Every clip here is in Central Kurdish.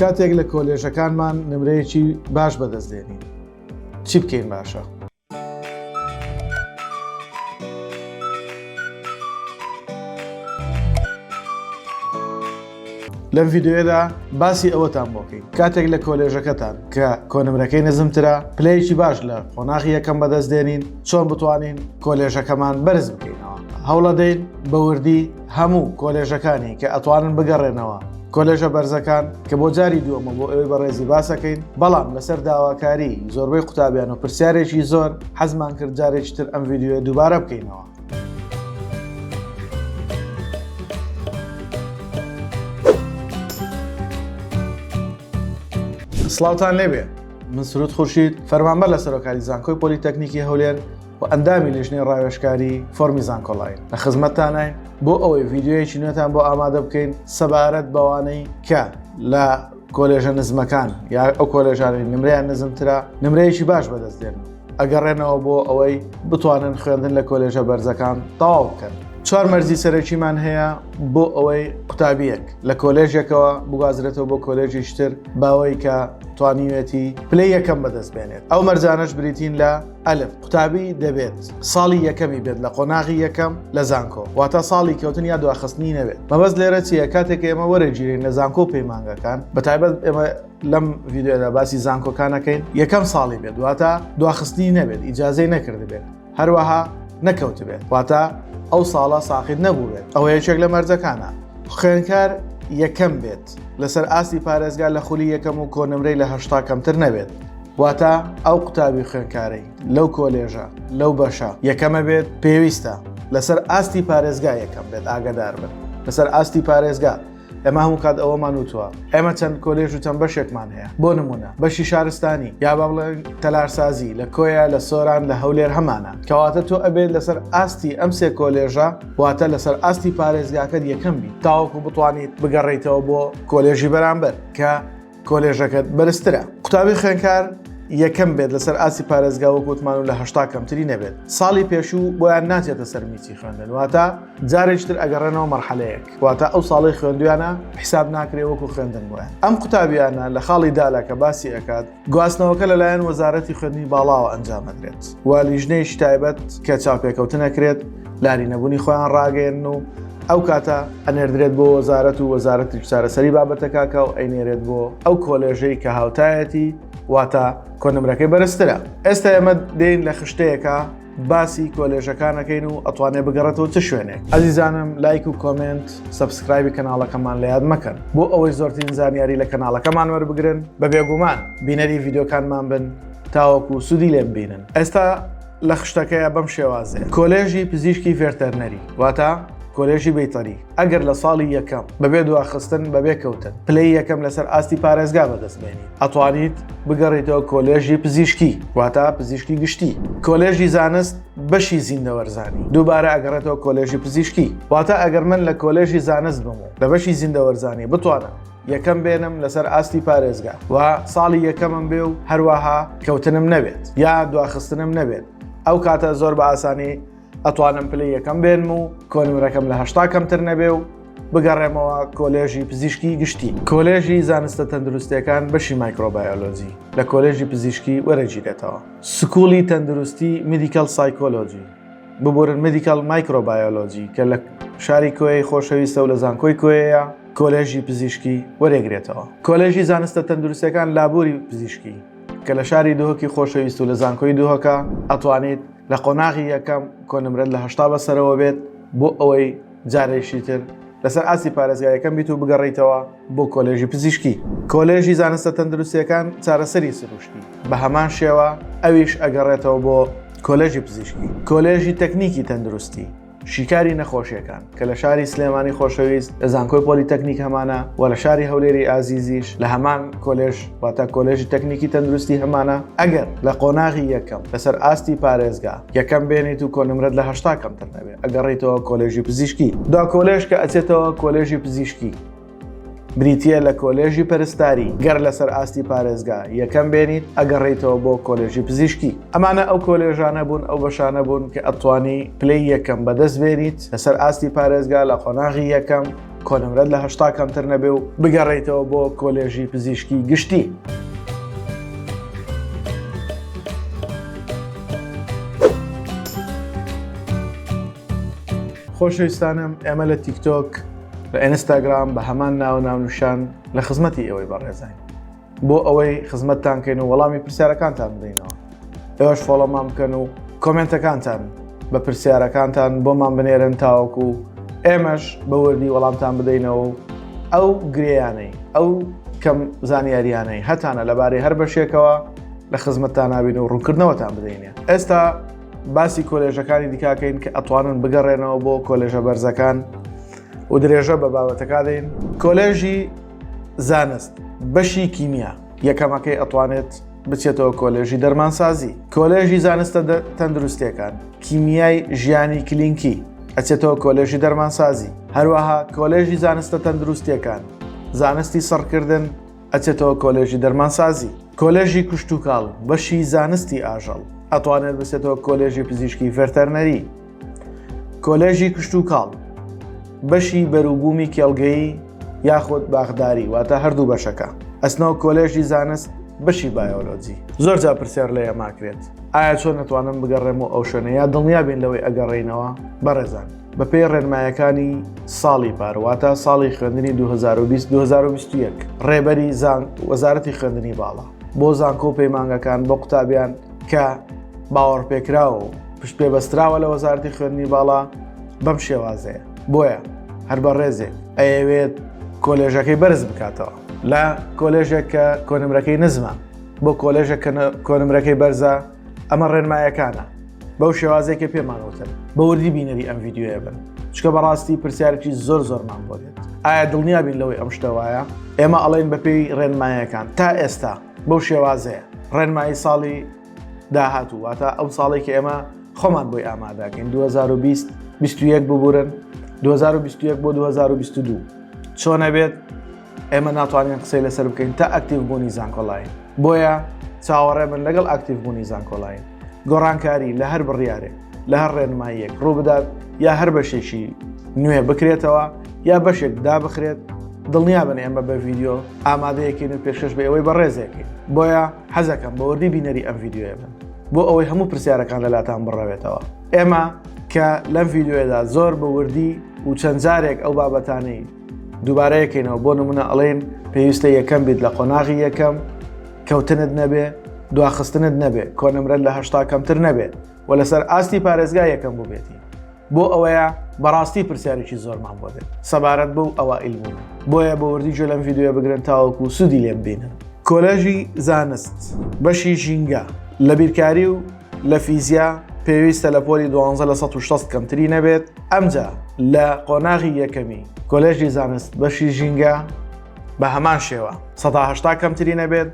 کاتێک لە کۆلێژەکانمان نمرەیەکی باش بەدەست دێنین چی بکەین باشە؟ لەم ڤیددیوەدا باسی ئەوەتان بۆکەین کاتێک لە کۆلێژەکەتان کە کۆنمرەکەی نزمترە پلەیەکی باش لە قۆناغی یەکەم بەدەست دێنین چۆن بتوانین کۆلێژەکەمان بەرز بکەینەوە هەوڵەدەین بەوردی هەموو کۆلێژەکانی کە ئەتوانن بگەڕێنەوە کۆلێژە بەرزەکان کە بۆ جاری دووەمە بۆ ئەوەی بەڕێزی باسەکەین بەڵام لەسەر داواکاری زۆربەی قوتابیان و پرسیارێکی زۆر حەزمان کرد جارێکی تر ئەم ویددیوە دووبارە بکەینەوە سلااوان لێبێ من سرود خورشید فەرمانبەر لە سەرۆکاری زانکۆی پۆلیتەکنیکی هەولێر و ئەندامی لیژنەی ڕاوێشکاری فۆرمی زانکۆلاین لە خزمەتتانین بۆ ئەوەی ڤیددیوەیەکی نوێتان بۆ ئامادە بکەین سەبارەت بەوانەی کە لە کۆلێژە نزمەکان یا ئەو کۆلێژانی نمریان نزمترا نمرەیەکی باش بەدەست دێن ئەگەڕێنەوە بۆ ئەوەی بتوانن خوێندن لە کۆلێژە بەرزەکان تاو بکەن چوار مەرزی سەرەکیمان هەیە بۆ ئەوەی قوتابیەک لە کۆلێژێکەوە بگازرێتەوە بۆ کۆلێژی شتر باوەی کە توانیوێتی پلی یەکەم بەدەست بێنێت ئەو مەرجانەش بریتین لە ئەلف قوتابی دەبێت ساڵی یەکەمی بێت لە قۆناغی یەکەم لە زانکۆ واتە ساڵی کەوتن یا دواخستنی نەبێت مەبەست لێرە چیە کاتێک ئێمە وەرەگیرین لە زانکۆ پەیمانگەکان بە تایبەت ئێمە لەم ڤیددیودا باسی زانکۆکانەکەین یەکەم ساڵی بێت واتە دواخستنی نەبێت ئیجاازەی نەکردبێت هەروەها نەکەوتبێت واتە ئەو ساڵە ساقیت نەبووێت ئەوە یەکێک لە مەرجەکانە خوێنکار یەکەم بێت لەسەر ئاستی پارێزگا لە خولی یەکەم و کۆنمرەی لە هەشتا کەمتر نەبێت واتە ئەو قوتابی خوێنکارەی لەو کۆلێژە لەو بەشە یەکەمە بێت پێویستە لەسەر ئاستی پارێزگا یەکەم بێت ئاگدار بن لەسەر ئاستی پارێزگا ئەمە هەموو کات ئەوەمان وتوە ئێمە چەند کۆلێژ و چەند بەشێکمان هەیە بۆ نمونە بەشی شارستانی یا با بڵێن تەلارسازی لە کۆیە لە سۆران لە هەولێر هەمانە کەواتە تۆ ئەبێت لەسەر ئاستی ئەم سێ کۆلێژە واتە لەسەر ئاستی پارێزگاکەت یەکەم بیت تاوەکو بتوانیت بگەڕیتەوە بۆ کۆلێژی بەرامبەر کە کۆلێژەکەت بەرزترە قوتابی خوێنکار یەکەم بێت لەسەر ئاسی پارێزگا و گوتمان و لە هشتا کەمتری نەبێت ساڵی پێشوو بۆیان ناچێتە سەر میچی خوێندن واتە جارێکتر ئەگەڕێنەوە مەرحەلەیەک واتە ئەو ساڵی خوێندویانە حیساب ناکرێ وەکو خوێندن بۆیان ئەم قوتابیانە لە خاڵی دالا کە باسی ئەکات گواستنەوەکە لەلایەن وەزارەتی خوێندنی باڵاوە ئەنجامەدرێت و لیژنەیەکی تایبەت کە چاپێکەوتنەکرێت لاری نەبوونی خۆیان ڕاگەێن و ئەو کاتە ئەنێردرێت بۆ وەزارەت و وەزارەتی چارەسەری بابەتەکەکە و ئەینێرێت بۆ ئەو کۆلێژەی کە هاوتایەتی واتە کۆنمرەکەی بەرزترە ئێستا ئێمە دێن لە خشتەیەەکە باسی کۆلێژەکانەکەین و ئەتوانێ بگەڕێتەوە چ شوێنێک ئەزیزانم لایک و کۆمنت سبسکرایبی کەناڵەکەمان لە یاد مەکەن بۆ ئەوەی زۆرترین زانیاری لە کەناڵەکەمان وەربگرن بە بێگومان بینەری ڤیددیوکانمان بن تاوەکو و سوودی لێم بینن ئێستا لە خشتەکەیە بەم شێوازێ کۆلێژی پزیشکی ڤێرتەرنەری واتە کۆلێژی بیتەری ئەگەر لە ساڵی یەکەم بەبێ دواخستن بەبێ کەوتن پلەی یەکەم لەسەر ئاستی پارێزگا بەدەستبێنیت ئەتوانیت بگەڕیتەوە کۆلێژی پزیشکی واتا پزیشکی گشتی کۆلێژی زانست بەشی زیندەوەرزانی دووبارە ئەگەڕێتەوە کۆلێژی پزیشکی واتا ئەگەر من لە کۆلێژی زانست بم و لە بەشی زیندەوەرزانی بتوانم یەکەم بێنم لەسەر ئاستی پارێزگا و ساڵی یەکەمم بێ و هەروەها کەوتنم نەبێت یا دواخستنم نەبێت ئەو کاتە زۆر بە ئاسانی ئەتوانم پلەی یەکەم بێنم و کۆنمرەکەم لە هەشتا کەمتر نەبێ و بگەڕێمەوە کۆلێژی پزیشکی گشتی کۆلێژی زانستە تەندروستەکان بەشی مایکرۆبایۆلۆجی لە کۆلێژی پزیشکی وەرەگیرێتەوە سکوڵی تەندروستی میدیکال سایکۆلۆجی ببورن میدیکال مایکرۆبایۆلۆجی کە لە شاری کۆی خۆشەویستە و لە زانکۆی کۆیەیە کۆلێژی پزیشکی وەرێگرێتەوە کۆلێژی زانستە تەندروستەکان لابووری پزیشکی کە لە شاری دهۆکی خۆشەویست و لە زانکۆی دهۆکە ئەتوانیت لە قۆناغی یەکەم کۆنمرەت لە هەشتا بەسەرەوە بێت بۆ ئەوەی جارێکی تر لەسەر ئاستی پارێزگا یەکەم بیت و بگەڕیتەوە بۆ کۆلێژی پزیشکی کۆلێژی زانستە تەندروستیەکان چارەسەری سروشتی بە هەمان شێوە ئەویش ئەگەڕێتەوە بۆ کۆلێژی پزیشکی کۆلێژی تەکنیکی تەندروستی شیکاری نەخۆشیەکان کە لە شاری سلێمانی خۆشەویست لە زانکۆی پۆلی تەکنیک هەمانە و لە شاری هەولێری ئازیزیش لە هەمان کۆلێژ واتە کۆلێژی تەکنیکی تەندروستی هەمانە ئەگەر لە قۆناغی یەکەم لەسەر ئاستی پارێزگا یەکەم بێنیت و کۆنمرەت لە هەشتا کەمتر نەبێت ئەگەڕیتەوە کۆلێژی پزیشکی دا کۆلێژ کە ئەچێتەوە کۆلێژی پزیشکی بریتییە لە کۆلێژی پەرستاری گەر لەسەر ئاستی پارێزگا یەکەم بێنیت ئەگەڕیتەوە بۆ کۆلێژی پزیشکی ئەمانە ئەو کۆلێژانە بوون ئەو بەشانە بوون کە ئەتوانی پلەی یەکەم بەدەست بێنیت لەسەر ئاستی پارێزگا لە قۆناغی یەکەم کۆنمرەت لە هەشتا کەمتر نەبێ و بگەڕیتەوە بۆ کۆلێژی پزیشکی گشتی. خۆشەویستانم ئێمە لە تیکتۆک لە ئێنستاگرام بە هەمان ناوە ناونوشان لە خزمەتی ئێوەی بەڕێزین بۆ ئەوەی خزمەتتان کەین و وەڵامی پرسیارەکانتان بدەینەوە ئێوەش فۆڵەمان بکەن و کۆمنتەکانتان بە پرسیارەکانتان بۆمان بنێرن تاوەکو و ئێمەش بە وردی وەڵامتان بدەینەوە و ئەو گرێیانەی ئەو کەم زانیاریانەی هەتانە لەبارەی هەر بەشێکەوە لە خزمەتتان ناوین و ڕوونکردنەوەتان بدەینێ ئێستا باسی کۆلێژەکانی دیکاکەین کە ئەتوانن بگەڕێنەوە بۆ کۆلێژە بەرزەکان و درێژە بە بابەتەکە دەین کۆلێژی زانست بەشی کیمیا یەکەمەکەی ئەتوانێت بچێتەوە کۆلێژی دەرمانسازی کۆلێژی زانستە تەندروستەکان کیمیای ژیانی کلینکی ئەچێتەوە کۆلێژی دەرمانسازی هەروەها کۆلێژی زانستە تەندروستیەکان زانستی سڕکردن ئەچێتەوە کۆلێژی دەرمانسازی، کۆلێژی کشتوکاڵ، بەشی زانستی ئاژەڵ، ئەتوانێت بچێتەوە کۆلێژی پزیشکی ڤێرتەرنەری، کۆلێژی کشتوکاڵ، بەشی بەروبوومی کێڵگەیی یاخود باخداری واتە هەردوو بەشەکە، ئەچنەوە کۆلێژی زانست بەشی بایۆلۆجی. زۆر جار پرسیار لە ئێماکرێت ئایا چۆن ئەتوانم بگەڕێم و ئەو شوێنە یا دڵنیابین لەوەی ئەگەڕێینەوە؟ بەڕێزان. بەپێی ڕێنمایەکانی ساڵی پار واتە ساڵی خوێندنی 2020 2021 ڕێبەری زان وەزارەتی خوێندنی باڵا بۆ زانکۆ و پەیمانگەکان بۆ قوتابیان کە باوەڕ پێکراوە و پشت پێ بەستراوە لە وەزارتی خوێندنی باڵا بەم شێوازەیە بۆیە هەر بە ڕێزێ ئەیەوێت کۆلێژەکەی بەرز بکاتەوە لە کۆلێژێک کە کۆنمرەکەی نزمە بۆ کۆلێژە کۆنمرەکەی بەرزە ئەمە ڕێنمایەکانە بەو شێوازێک کە پێمانەوتن بە وردی بینەری ئەم یددیوە بن چکە بەڕاستی پرسیارێکی زۆر زۆرمان بۆ دێت ئایا دڵنیا بین لەوەی ئەم شتەوایە ئێمە ئەڵێن بەپێی ڕێنمایەکان تا ئێستا بەو شێوازەیە ڕێنمایی ساڵی داهاتوو واتە ئەو ساڵێکی ئێمە خۆمان بۆی ئامادەکەین 2020 21 ببورن 2021 بۆ 2022 چۆنە بێت ئێمە ناتوانین قسەی لەسەر بکەین تا ئەکتیڤ بوونی زانکۆلاین بۆیە چاوەڕێ من لەگەڵ ئەکتیڤ بوونی زانکۆلاین گۆڕانکاری لە هەر بڕیارێک لە هەر ڕێنماییەک ڕووبدات یا هەر بەشێکی نوێ بکرێتەوە یا بەشێک دابخرێت دڵنیا بن ئێمە بە ڤیددیو ئامادەیەکەین و پێشش بە ئەوەی بەڕێزێکین بۆیە حەزەکەم بە وردی بینەری ئەم ڤیددیوە بن بۆ ئەوەی هەموو پرسیارەکان لەلاتان بڕەوێتەوە ئێمە کە لەم ڤیددیوەدا زۆر بە وردی و چەند جارێک ئەو بابەتانەی دووبارە یەکەینەوە بۆ نمونە ئەڵێن پێویستە یەکەم بیت لە قۆناغی یەکەم کەوتنت نەبێ دواخستنت نەبێ کۆنمرە لە هەشتا کەمتر نەبێت و لەسەر ئاستی پارێزگا یەکەم بووبێتی بۆ ئەوەیە بەڕاستی پرسیارێکی زۆرمان بۆ دێت سەبارەت بەو ئەوە ئیلبوون بۆیە بە وردی جۆ لەم یددیوە بگرن تاوەکو و سوودی لێم بینن کۆلەژی زانست بەشی ژینگە لە بیرکاری و لە فیزیا پێویستە لە پۆلی دوانزە لە 1600 کەمتری نەبێت ئەمجا لە قۆناغی یەکەمی کۆلێژی زانست بەشی ژینگە بە هەمان شێوە 1970 کەمتری نەبێت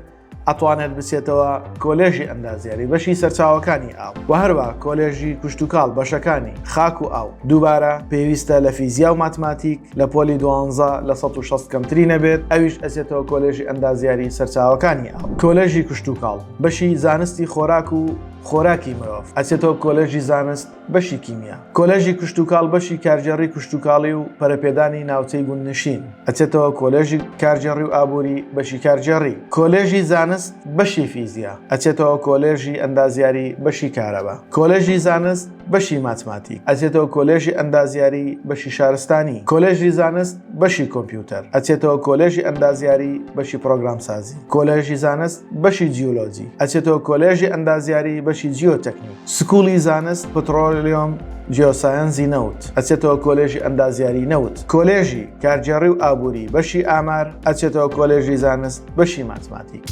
ئەتوانێت بچێتەوە کۆلێژی ئەندازیاری بەشی سەرچاوەکانی ئاو و هەروە کۆلێژی کوشتتوکاڵ بەشەکانی خاک و ئاو دووبارە پێویستە لە فیزیا و ماتماتیک لە پۆلی دوانزە لە 1600 کەمتری نەبێت ئەویش ئەسێتەوە کۆلێژی ئەندازیاری سەرچاوەکانی ئاو کۆلێژی کوشتتوکاڵ بەشی زانستی خۆراک و خۆراکی مرۆڤ ئەچێتەوە کۆلێژی زانست بەشی کیمیا کۆلێژی کشتتوکاڵ بەشی کارگێڕی کشتتوکاڵی و پەرەپێدانی ناوچەی گوندنشین ئەچێتەوە کۆلێژی کارگێڕی و ئابووری بەشی کارگێڕی کۆلێژی زانست بەشی فیزیا ئەچێتەوە کۆلێژی ئەندازیاری بەشی کارەبا کۆلێژی زانست بەشی ماتماتیک ئەچێتەوە کۆلێژی ئەندازیاری بەشی شارستانی کۆلێژی زانست بەشی کۆمپیوتەر ئەچێتەوە کۆلێژی ئەندازیاری بەشی پرۆگرام سازی کۆلێژی زانست بەشی جیولۆجی ئەچێتەوە کۆلێژی ئەندازیاری بەشی جیۆتەکنی سکوڵی زانست پترۆلیۆم جیۆسایەنزی نەوت ئەچێتەوە کۆلێژی ئەندازیاری نەوت کۆلێژی کارگێڕی و ئابووری بەشی ئامار ئەچێتەوە کۆلێژی زانست بەشی ماتماتیک.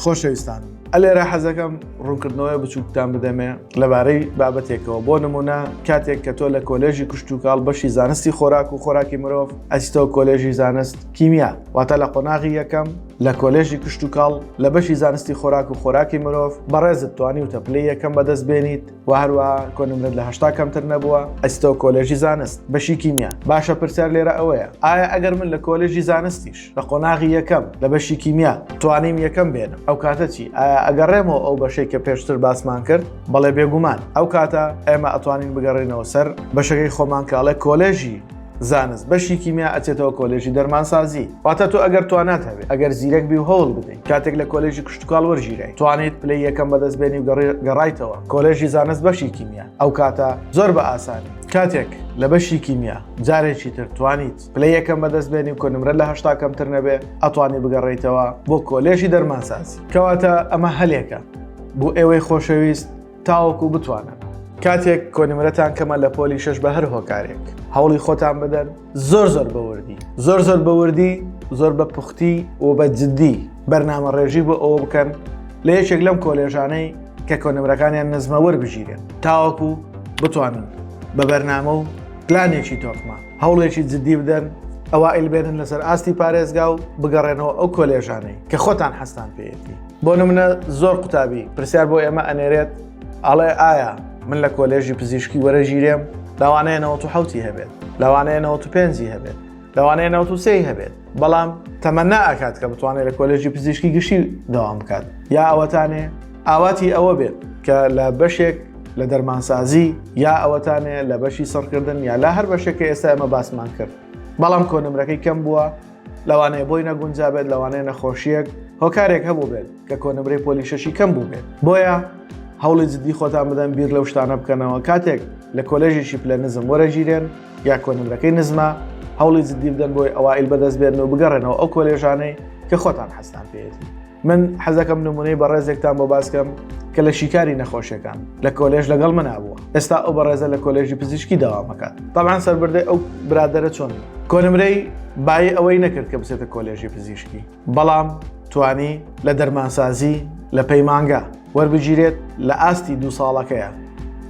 خۆشەویستان ئەلێرە حەزەکەم ڕوونکردنەوەی بچووکتان بدەمێ لەبارەی بابەتێکەوە بۆ نمونە کاتێک کە تۆ لە کۆلێژی کوشتتوکاڵ بەشی زانستی خۆراک و خۆراکی مرۆڤ ئەستەوە کۆلێژی زانست کیمیا واتە لە قۆناغی یەکەم لە کۆلێژی کوشتتوکاڵ لە بەشی زانستی خۆراک و خۆراکی مرۆڤ بەڕێزت توانی وتە پلی یەکەم بەدەست بێنیت و هەروەها کۆنمرەت لە هەشتا کەمتر نەبووە ئەستەوە کۆلێژی زانست بەشی کیمیا باشە پرسیار لێرە ئەوەیە ئایا ئەگەر من لە کۆلێژی زانستیش لە قۆناغی یەکەم لە بەشی کیمیا توانیم یەکەم بێنم ئەو کاتە چی ئایا ئەگەڕێمەوە ئەو بەشەی کە پێشتر باسمان کرد بەڵێ بێگومان ئەو کاتە ئێمە ئەتوانین بگەڕێنەوە سەر بەشەکەی خۆمانکەڵێ کۆلێژی زانست بەشی کیمیا ئەچێتەوە کۆلێژی دەرمانسازی واتە تۆ ئەگەر توانات هەبێت ئەگەر زیرەک بی و هەوڵ بدەین کاتێک لە کۆلێژی کشتتوکال وەرژیرای توانیت پلی یەکەم بەدەست بێنی و گەڕایتەوە کۆلێژی زانست بەشی کیمیا ئەو کاتە زۆر بە ئاسانی کاتێک لە بەشی کیمیا جارێکی تر توانیت پلی یەکەم بەدەست بێنی و کۆنمرە لە هشتا کەمتر نەبێ ئەتوانی بگەڕیتەوە بۆ کۆلێژی دەرمانسازی کەواتە ئەمە هەلێکە بۆ ئێوەی خۆشەویست تاوەکو بتوانن. کاتێک کۆنمرەتان کەمە لە پۆلی شش بە هەر هۆکارێک هەوڵی خۆتان بدەن زۆر زۆر بەوردی زۆر زۆر بەوردی زۆر بە پوختی و بە جددی بەرنامە ڕێژی بۆ ئەوە بکەن لە یەکێک لەم کۆلێژانەی کە کۆنمرەکانیان نزمە وەربژیرێن تاوەکو بتوانن بە بەرنامە و پلانێکی تۆکمە هەوڵێکی جددی بدەن ئەوە ئیلبێنن لەسەر ئاستی پارێزگا و بگەڕێنەوە ئەو کۆلێژانەی کە خۆتان حەستان پێێتی بۆ نمونە زۆر قوتابی پرسیار بۆ ئێمە ئەنێرێت ئاڵێ ئایا من لە کۆلێژی پزیشکی وەرەژیرێم لەوانەیە 1970 هەبێت لەوانەیە 95 هەبێت لەوانەیە 93 هەبێت بەڵام تەمەنا ئاکات کە بتوانێت لە کۆلێژی پزیشکی گشتی داوام بکات یا ئەوەتانێ ئاواتی ئەوە بێت کە لە بەشێک لە دەرمانسازی یا ئەوەتانێ لە بەشی سڕکردن یا لا هەر بەشێکە ئێستا ئەمە باسمان کرد بەڵام کۆنمرەکەی کەم بووە لەوانەیە بۆی نەگونجابێت لەوانەیە نەخۆشیەک هۆکارێک هەبوو بێت کە کۆنمرەی پۆلی شەشی کەم بوو بێت بۆیە هەوڵی جددی خۆتان بدەن بیر لەو شتانە بکەنەوە کاتێک لە کۆلێژێکی پلە نزم وەرەگیرێن یا کۆنمرەکەی نزمە هەوڵی جددی بدەن بۆی ئەوائیل بەدەست بێن و بگەڕێنەوە ئەو کۆلێژانەی کە خۆتان حەستان پێێتی من حەزەکەم نمونەی بەڕێزێکتان بۆ باسکەم کە لە شیکاری نەخۆشیەکان لە کۆلێژ لەگەڵ منابووە ئێستا ئەو بەڕێزە لە کۆلێژی پزیشکی داوامەکات تاان سربردەی ئەو برادرە چۆن کۆنمرەی بای ئەوەی نەکرد کە بچێتە کۆلێژی پزیشکی بەڵام توانی لە دەرمانسازی لە پەیمانگا وەربگیرێت لە ئاستی دوو ساڵەکەیە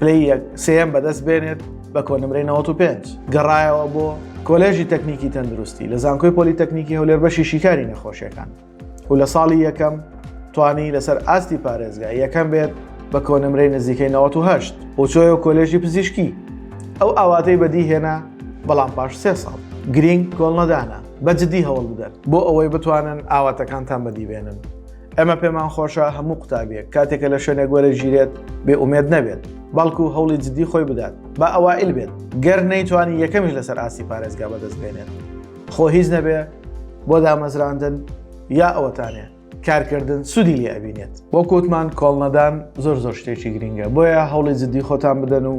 پلی یەک سم بەدەست بێنێت بە کۆنمرەی 95 گەڕایەوە بۆ کۆلێژی تەکنیکی تەندروستی لە زانکۆی پۆلی تەکنیکی هەولێر بەشی شیکاری نەخۆشیەکان و لە ساڵی یەکەم توانی لەسەر ئاستی پارێزگا یەکەم بێت بە کۆنمرەی نزیکەی 1970 بۆچۆی و کۆلێژی پزیشکی ئەو ئاواتەی بەدی هێنا بەڵام پاش سێ ساڵ گرینگ کۆڵنەدانە بە جددی هەوڵ بدەن بۆ ئەوەی بتوانن ئاواتەکانتان بەدیبێنن ئەمە پێمان خۆشە هەموو قوتابیە کاتێکە لە شوێنێک وەرە ژیرێت بێ ئومێد نەبێت بەڵکو هەوڵی جددی خۆی بدات با ئەوائل بێت گەر نەیتوانی یەکەمیش لەسەر ئاستی پارێزگا بەدەست بێنێت خۆ هیچ نەبێ بۆ دامەزراندن یا ئەوەتانێ کارکردن سوودی لێ ئەبینێت بۆ کووتمان کۆڵنەدان زۆر زۆر شتێکی گرنگە بۆیە هەوڵی جددی خۆتان بدەن و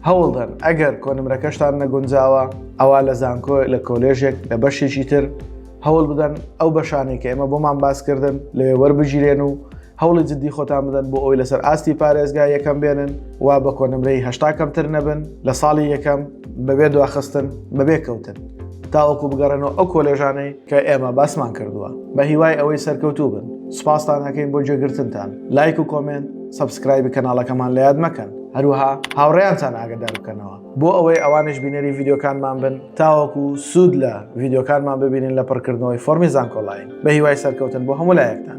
هەوڵدەن ئەگەر کۆنمرەکەشتان نەگونجاوە ئەوا لە زانکۆ لە کۆلێژێک لە بەشێکی تر هەوڵ بدەن ئەو بەشانێک کە ئێمە بۆمان باسکردن لەوێ وەربگیرێن و هەوڵی جددی خۆتان بدەن بۆ ئەوی لەسەر ئاستی پارێزگا یەکەم بێنن و بە کۆنمرەی هەشتا کەمتر نەبن لە ساڵی یەکەم بەبێ دواخستن بەبێ کەوتن تاوەکو بگەڕێنەوە ئەو کۆلێژانەی کە ئێمە باسمان کردووە بە هیوای ئەوەی سەرکەوتوو بن سوپاستان ئەەکەین بۆ جێگرتنتان لایک و کۆمنت سبسکرایبی کەناڵەکەمان لە یاد مەکەن هەروها هاوڕێیانتان ئاگدار بکەنەوە بۆ ئەوەی ئەوانش بینەری ڤیددیوکانمان بن تاوەکو سوود لە ڤیددیوکانمان ببینن لە پڕکردنەوەی فۆرمی زانکۆلاین بە هیوای سەرکەوتن بۆ هەمولایەکتان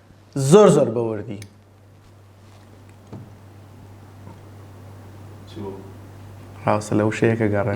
زۆر زۆر بە وردی. ڕاستە لە وشەیەکە گەڕێ.